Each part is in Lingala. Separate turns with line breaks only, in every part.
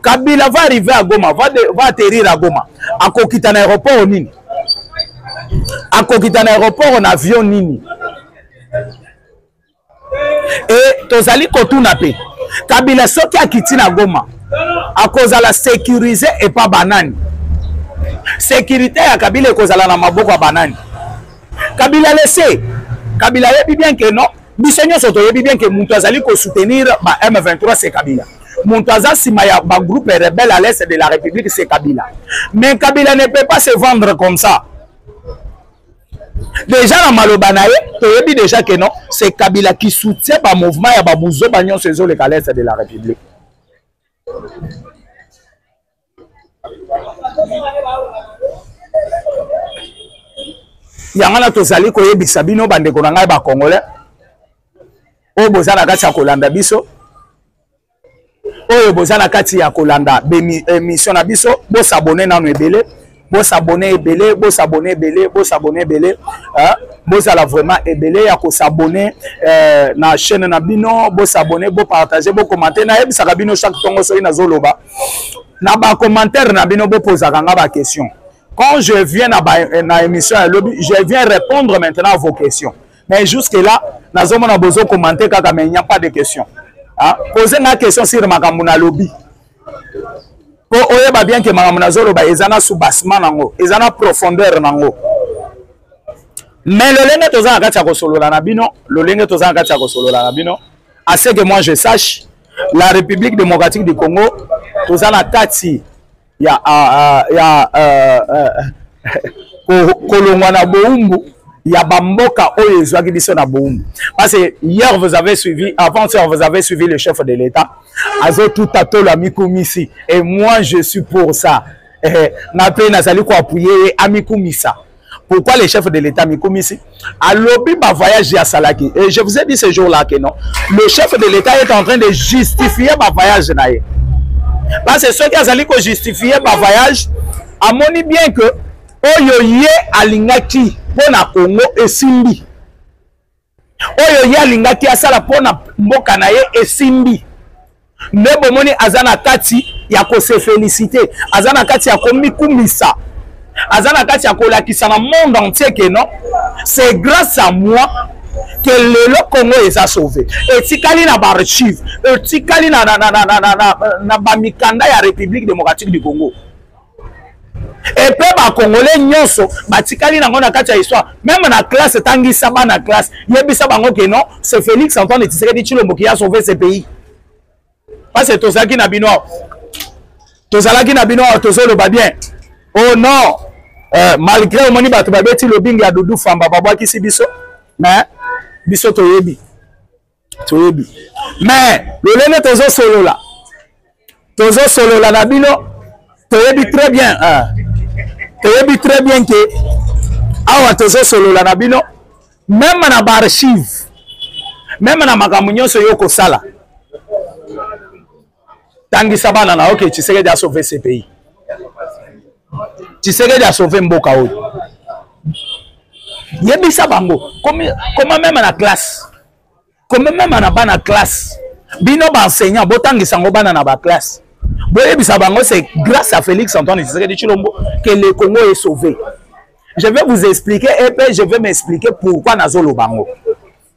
kabila va arrive à goma va, de, va atterrir à goma akokita na aéroport nini akokita na aéroport na avion nini e tozali kotuna mpe kabila soki akiti na goma akozala sécurise epa banani sécurité ya kabila ekozala na maboko ya banani kabila lese kabila ayebi bien ke non biso nyonso toyebi bien ke moto azali kosoutenir ba m23 se kabila moto aza nsima ya bagroupe rebelle à l'est de la république se kabila mais kabila ne peut pas se vendre comme ça déjà na maloba na ye toyebi déjà ke non se kabila qui soutient bamouvement ya babuzoba nyonso ezoleka l'est de la république yango wana tozali koyebisa bino bandeko na ngai bakongole oyo boza na kati ya kolanda biso oyo boza na kati ya kolanda emission na biso bosabone nano ebele bo s'abonner ebele bo s'abonner ebele bo s'abonner ebele hein? bozala vraiment ebele ya kosabone euh, na chaîne na bino bosabone bopartage bokomante nayebisaka bino chaque ntongo soki nazoloba na bacommentaire na bino bopozaka nga baquestion quand je viens na, ba, euh, na émission ya lobi je viens répondre maintenant à vos questions mais jusque là nazomona bozokomante kaka mais il n'y a pas de question hein? pose nga question sur makambo na lobi po oyeba bien ke makambo nazoloba eza na soubassement nango eza na profondeur nango mais lolenge toza na kati ya kosolola na bino lolenge toza na kati ya kosolola na bino à ce que moi je sache la république démocratique du congo toza na kati ya, ya, ya uh, uh, kolongwa na boumbu ya bamboka oyo ezwaki biso na boumbu parce que hier vous avez suivi avant hier vous avez suivi le chef de l'état azo tuta tolo amikumisi et moi je suis pour ça eh, nga mpe nazali koapuye ye amikumisa pourquoi le chef de l'état amikumisi alobi bavoyage ye asalaki et je vous ai dit ce jour là que non le chef de l'état est en train de justifier bavoyage na ye parce que soki azali kojustifie bavoyage amoni bien que oyo ye alingaki mpo na congo esimbi oyo ye alingaki asala mpo na mboka na ye esimbi nde bomoni aza na kati ya kose felicite aza na kati ya komikumisa aza na kati ya kolakisa na monde entier ke non c'est grâce à moi ke lelo congo eza sauve etikali na baarchive etikali na, na, na, na, na, na, na, na bamikanda ya république démocratique du congo epe bakongole nyonso batikali nango na kati ya histoire meme na classe etangisa bana classe yebisa bango ke non c'est félix antoine tshisekedi tshilombo qui a sauvé ce pays parce que tozalaki na bino awa tozalaki na bino awa tozoloba bien oh non euh, malgré omoni bato babeti lobingi ya dudu famba babwakisi biso mais biso toyebi toyebi mais lolenge tozosolola tozosolola na bino toyebi très bien hein. toyebi très bien ke awa tozosolola na bino meme na baarchive meme na makambo nyonso yo okosala tangisa bana na yo ke tshisekedi asauve ce pays tshisekedi asauve mboka oyo yebisa bango koma meme na classe koma meme na bana classe bino baenseignant botangisa yango bana na baklasse boyebisa bango c'est grâce à félix antoine tshisekedi tshilombo que le congo est sauvé je vais vous expliquer et puis je vais m'expliquer pourquoi nazoloba yango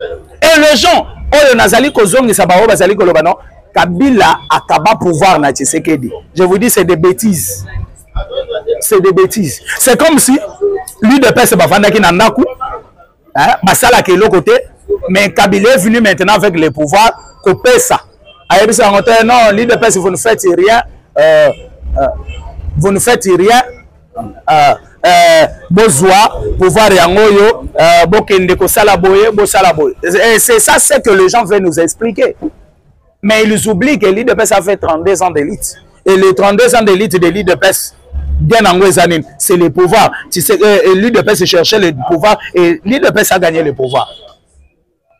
et les gens oyo nazali kozongisa baoyo bazali koloba no kabila akaba pouvoir na tshisekedi je vous dis c'est des bêtises c'est des bêtises c'est comme si l'udps bafandaki na ndako basalaka eloko te mais kabila est venu maintenant avec le pouvoir kopesa ayebisa yango te non l'udps vous ne faites rien euh, euh, vous ne faites rien Ah, eh, bozwa pouvoir yango oyo eh, bokende kosala boye bosala boye eh, c'est ça ce que les gens veulent nous expliquer mais ils oublient que l'idps a fait 32 ans d'élite et les 32 ans d'élite de l'idps bien yango eza nini c'est le pouvoir tu sais, eh, l'idps cherchait le pouvoir et l'idps a gagné le pouvoir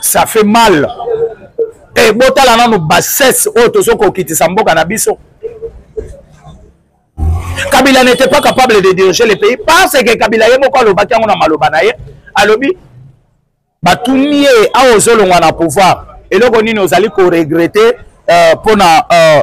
ça fait mal e botala nano bassesse oyo tozo kokitisa mboka na biso kabila n'était pas capable de diriger le pays parce que kabila ye moko alobaki yango na maloba na ye alobi batuni ye awa ozolongwa na pouvoir eloko nini ozali koregrete euh, mpo na euh,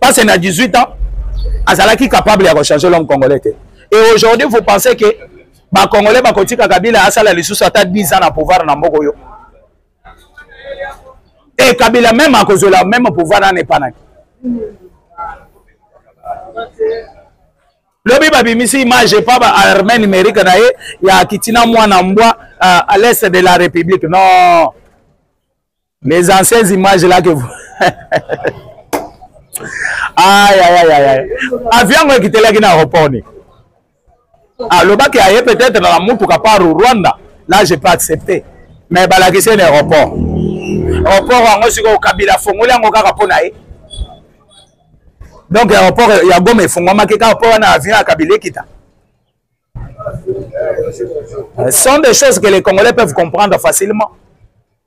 parce na 18 ans azalaki capable ya kochanger l'homme congolais te et aujourd'hui vous pensez que bacongolais bakotika kabila asala lisusu ata 10 ans na pouvoir na mboka oyo e kabila meme akozwela meme pouvoir wana epanaki lobi babimisi image epa ba armée numérique na ye ya kitina mwana mbwa uh, à l'est de la république non Les anciennes images là que vous... aïe, aïe, aïe, aïe. Avion qui était là qui n'a répondu. alobaki aye peut-être na motuka par rwanda là je peux accepter mais balakisi na aéroport aéroport yango sikoyo kabila afongoli yango kaka mpo na ye donc aéroport ya goma efungwamaki kaka mpo wana avion ya kabila ekita sont des choses que les congolais peuvent comprendre facilement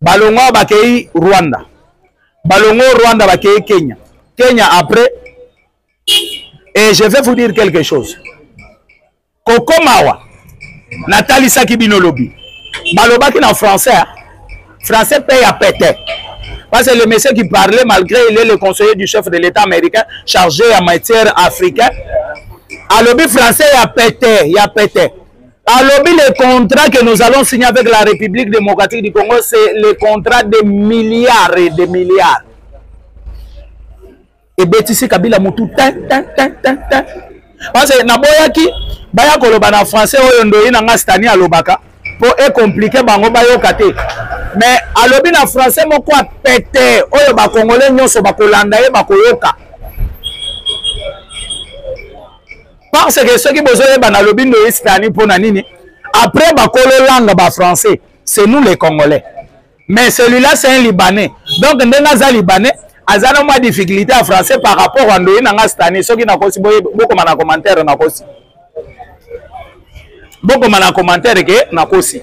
balongo bakei rwanda balongo rwanda bakei kenya kenya après et je vais vous dire quelque chose kokomawa natalisaki bino lobi balobaki na français hein? français mpe ya pete parce que le monsieur qui parlait malgré il est le conseiller du chef de l'état américain chargé ya matière africain alobi français ya pete ya pete alobi le contrat que nous allons signer avec la république démocratique du congo c'est le contrat de milliards et de milliards ebetisi kabila motu tin tin tin tin tin parce que naboyaki baya koloba na français oyo ndoyi na nga stani alobaka mpo ekomplike bango bayoka te mais alobi na français moko ya pete oyo bakongole nyonso bakolanda ye bakoyoka parce que soki bozoyeba nalobi ndo espani mpo na nini après bakolo langa ba français c'est nous les congolais mais celui-là c'est un libanais donc ndenge aza libanais aza na mwa difficulté ya français par rapport ya ndoyi na nga stani soki nakosi bokoma na commentaire nakosi bokoma na commentaire ke nakosi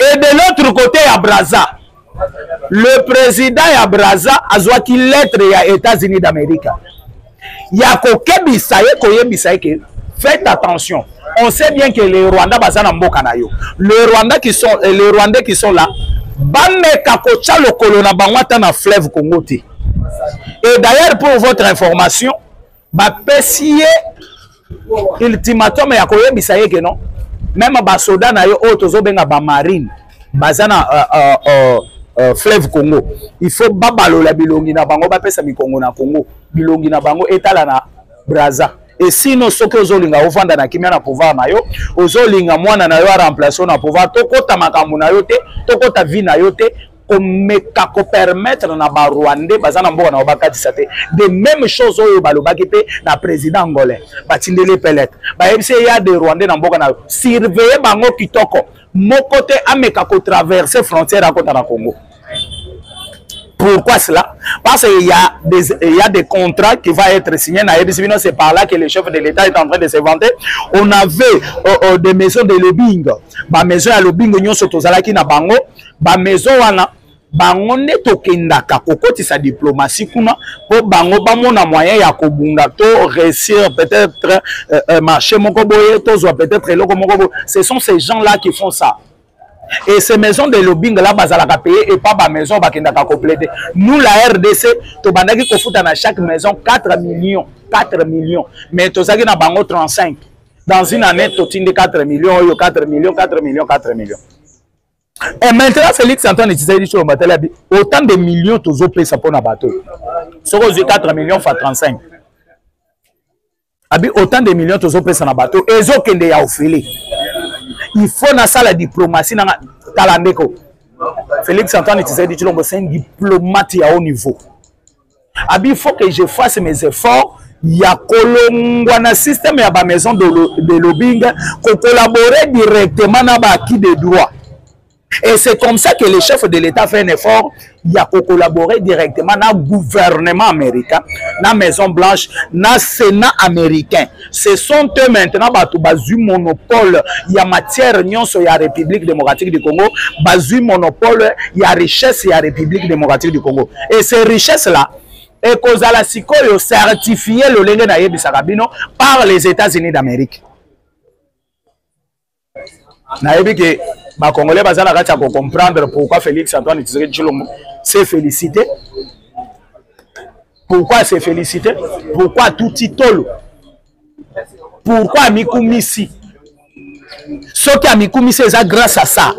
et de l'autre côté ya braza le président ya braza azwaki lettre ya états-unis d'amérique ya kokebisa ye koyebisa ye ke faites attention on sait bien que les rwandais baza na mboka na yo le rwandais qui sont eh, les rwandais qui sont là bameka kotya lokolo na bango ata na fleuve congo te et d'ailleurs pour votre information bapesi ye ultimatum ya koyebisa ye keno meme basoda na yo oyo tozobenga bamarine baza na uh, uh, uh, uh, fleuve congo il faut babalola bilongi na bango bapesa mikongo na congo bilongi na bango etala na braza esino soki ozolinga ovanda na kimia na pouvoir na yo ozolinga mwana na yo aremplace yo na pouvoir tokota makambo na yo te tokota vie na yo te komeka ko permettre na ba rwandais baza na mboka na bakatisa te de même chose oyo balobaki mpe na président angolais batindeli pelete bayebisi ye ya de rwandais na mboka na yo surveille bango kitoko moko te ameka kotraverse frontière akota na congo Pourquoi cela Parce qu'il y, a des, il y a des contrats qui vont être signés. C'est par là que le chef de l'État est en train de se vanter. On avait euh, euh, des maisons de lobbying. Ma maison à lobbying, nous sommes tous à la Bango. bamaison wana bango nde tokendaka kokotisa diplomatie kuna mpo bango bamona moyen ya kobunda to réussir peut-être euh, euh, marché moko boye tozwa peut-être eloko moko boye ce sont ces gens là qui font ça et ces maisons de lobbying là bazalaka paye epa bamaison bakendaka koplaide nous la rdc tobandaki kofuta na chaque maison 4 millions 4 millions mais tozalaki na bango 35 dans une année totindi 4 millions oyo 4 millions 4 millions 4 millions Et maintenant, Félix Antoine Tshisekedi sur Matalabi, autant de millions tozo pesa pour na bateau. Soko 4 millions fois 35. Abi autant de millions tozo pesa na bateau. Ezo kende ya ofele. Il faut na sala diplomatie na talandeko. Félix Antoine Tshisekedi Tshilombo c'est un diplomate à haut niveau. abi faut que je fasse mes efforts ya kolongwa na système ya ba maison de, lo, de lobbying kocollaborer directement na ba acquis de droit et c'est comme ça que le chef de l'état fait un effort ya kocollaborer directement na gouvernement américain na maison blanche na sénat américain ce sont eux maintenant bato bazwi monopole ya matière nyonso ya république démocratique du congo bazwi monopole ya richesse ya république démocratique du congo et ces richesses là ekozala sikoyo certifie lolenge nayebisaka bino par les états-unis d'amérique nayebi ke bacongolais baza na kati ya kocomprendre pourquoi félix antoine tshisekedi tshilombo se félicité pourquoi se félicité pourquoi atuti tolo pourquoi amikumisi soki amikumisi eza grâce à ça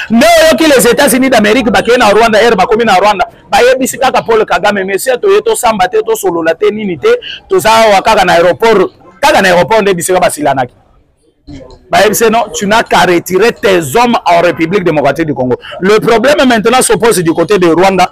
nde oyoki les états-unis d'amérique bakei na rwanda ere bakomi na rwanda bayebisi kaka paul kagame monsieur toye tosamba te tosolola te nini te toza awa kaka na aéroport kaka na aéroport nde bisika basilanaki bayebisi non tu n'as qu'à retirer tes hommes en république démocratique du congo le problème maintenant s'oppose du côté de rwanda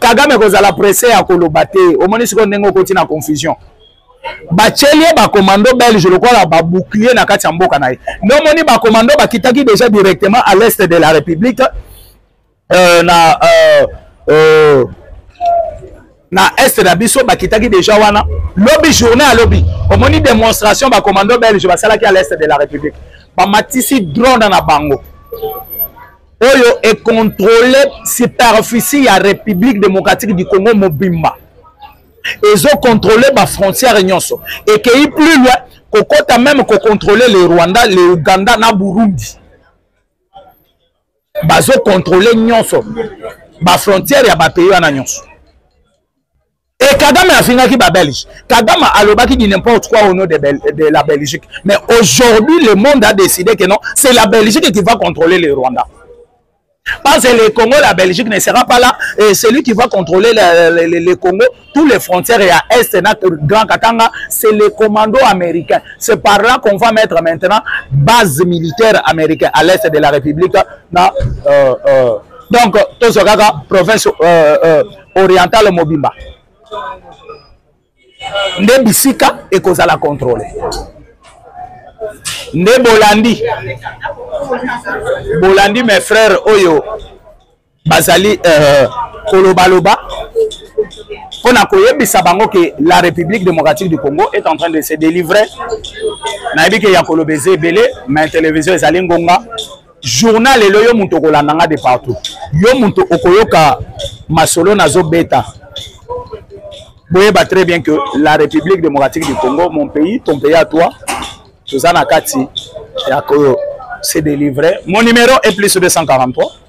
kagame kozala presse ya koloba te omoni sikoyo ndenge okoti na confusion batyeli ye bakomando belge lokola babouclier na kati ya mboka na ye nde omoni bakomando bakitaki déjà directement à l'est de la république euh, na euh, euh, na est na biso bakitaki deja wana lobi journée ya lobi omoni démonstration bacommando belge basalaki à l'est de la république bamatisi drone na bango oyo econtrole superficie ya république démocratique du congo mobimba ezocontrole bafrontière nyonso ekei plus loin kokota meme kocontrole le rwanda le uganda na burundi bazo controle nyonso bafrontière ya bapays wana nyonso e kagame afingaki babelge kagame alobaki du n'importe quoi au nom de, Bel de la belgique mais aujourd'hui le monde a décidé que non c'est la belgique qui va contrôler le rwanda parce que le congo la belgique ne sera pas là et celui qui va contrôler le, le, le, le congo tous les frontières ya est na grand katanga c'est les commandos américains c'est par là qu'on va mettre maintenant base militaire américaine à l'est de la république na euh, euh, donc tozwa kaka province euh, euh, orientale mobimba nde bisika ekozala contrôle nde bolandi bolandi mes frères oyo bazali euh, kolobaloba mpo na koyebisa bango ke la république démocratique du congo est en train de se délivrer nayebi ke ya koloba eza ebele mais télévision ezali ngonga journal elo yo moto okolanda nga de partout yo moto okoyoka masolo nazobeta boyeba très bien que la république démocratique du congo mon pays ton pays à toi toza na kati ya ko se délivrer mon numéro est plus 243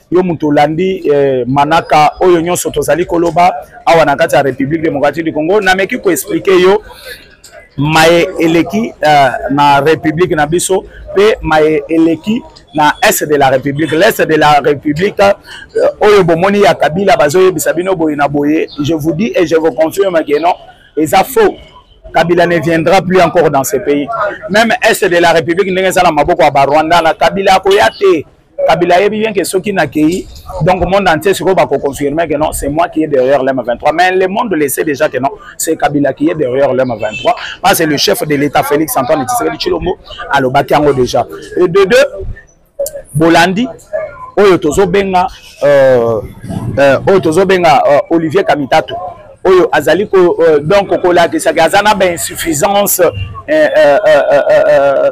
yo moto olandi eh, manaka oyo nyonso tozali koloba awa na kati ya république démocratique du congo nameki koexplike yo maye eleki uh, na république na biso mpe maye eleki na est de la république l'est de la république uh, oyo bomoni ya kabila bazoyebisa bino boye na boye je vous dis et je vous confirme que non eza faux Kabila ne viendra plus encore dans ce pays. Même Est de la République, nous avons Kabila, kabila ayebi bien ke soki nakeyi donc monde entier sikoyo bakoconfirme que non c'est moi qui est derrière lm 23 mais le monde le sait déjà que non c'est kabila qui est derrière lm 23 parce que le chef de l'état félix antoine tshisekedi tshilombo alobaki yango déjà et de deux bolandi oyo tozobenga euh, euh, oyo tozobenga euh, olivier kamitato oyo azali ko, euh, donc kolakisaka aza na bainsuffisance euh, euh, euh, euh, euh,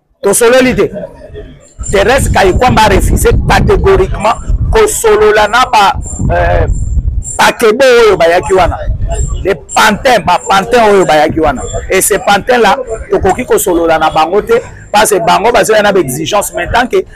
tosololi te Thérèse Kayikwamba a refusé catégoriquement kosolola na ba euh, bakebe oyo bayaki wana les pantins ba pantins oyo bayaki wana et ces pantins là tokoki kosolola na bango te parce que bango bazoya na ba exigence mais tant que